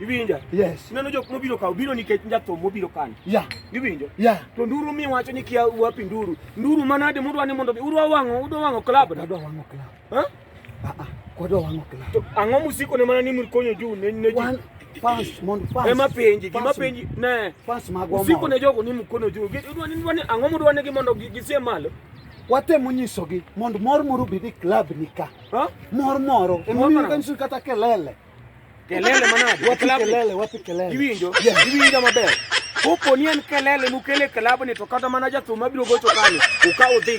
Iwinja? Yes. Ineno jok mobiro ka obiro nikech njathum mobiro kani. Yeah. Iwinjo? Yeah. To nduru mi wacho ni kia wapi nduru. Nduru manade mudwa ni mondo udwa wang'o, udwa wang'o club. Udwa wang'o club. Ha? Ah ah. Kodwa wang'o club. To ang'o musiko ne mana ni mkonyo juu ne ne juu. Fans mon fans. Ema penji, gima penji ne. Fans magwa. Usiko ne jogo ni mkono juu. Udwa ni ndwa ni ang'o mudwa ni mondo gisie malo. watemo nyisogi mondo mor moro obed e klab ni ka mor moro emomiyo kanyiso kata kelele Kelele manade. Wapi kelele, wapi kelele. Iwinjo, yeah. iwinjo maber. Kopo ni en kelele mukele kelabni to kata mana jathum abiro gocho kanyo. Ukaw udhi